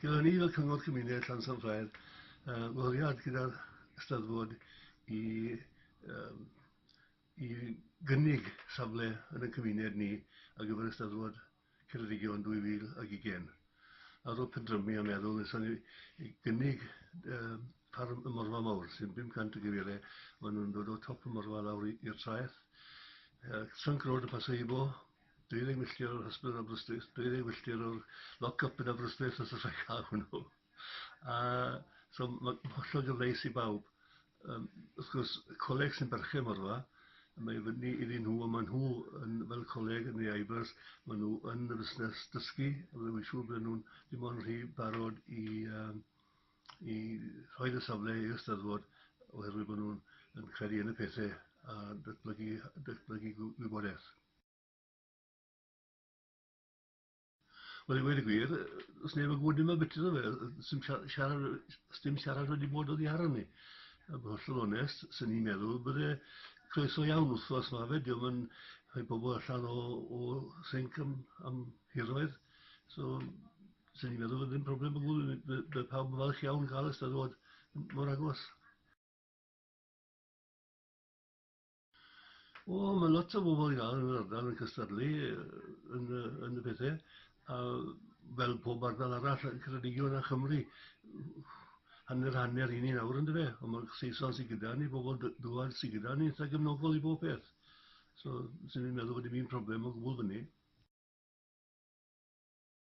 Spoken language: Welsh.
Gyda ni fel Cyngor Cymuned Llansan Ffair, uh, wariad gyda'r Ysteddfod i, um, i gynnig safle yn y cymuned ni ar gyfer Ysteddfod Ceredigion 2020. Ar ôl pendrymu a meddwl, nes ni i gynnig um, ffarm y Morfa Mawr, sy'n 500 o gyfeiriau, maen nhw'n dod o top y Morfa lawr i'r traeth. Uh, Trunk Road y Paseibo, Deuddeg milltir o'r hysbydd yn Aberystwyth, deuddeg milltir o'r lock-up yn Aberystwyth os allai cael hwnnw. A, so, mae'n hollol gyfleus i bawb. Um, wrth gwrs, coleg sy'n berchen mor dda, mae fyny iddyn nhw, a maen nhw yn, fel coleg yn ei aibers, maen nhw yn y fusnes dysgu, a mae'n siŵr bod nhw'n dim ond rhy barod i, um, i rhoi y safle i'r ysteddfod oherwydd bod nhw'n credu yn y pethau a datblygu, datblygu gwybodaeth. Wel i wedi gwir, os neb yn gwybod dim beth yna fe, sy'n siarad, dim siarad wedi bod oddi ar ni. A bod hollol onest, sy'n ni'n meddwl, bydde croeso iawn wrth os mae fe, diolch yn rhoi pobl allan o, o sync am, am hiroedd. So, sy'n ni'n meddwl, ddim problem o gwbl, bydd pawb yn falch iawn cael ystadwad mor agos. O, mae lot o bobl iawn yn yr ardal yn cystadlu yn, yn y pethau, a fel pob ardal arall yn Ceredigion a Chymru, hanner hanner i ni nawr yn dyfe, ond mae'r Saeson sy'n gyda ni, bobl dywad sy'n gyda ni, eitha gefnogol i bob peth. So, sy'n ni'n meddwl bod dim un problem o gwbl fyny.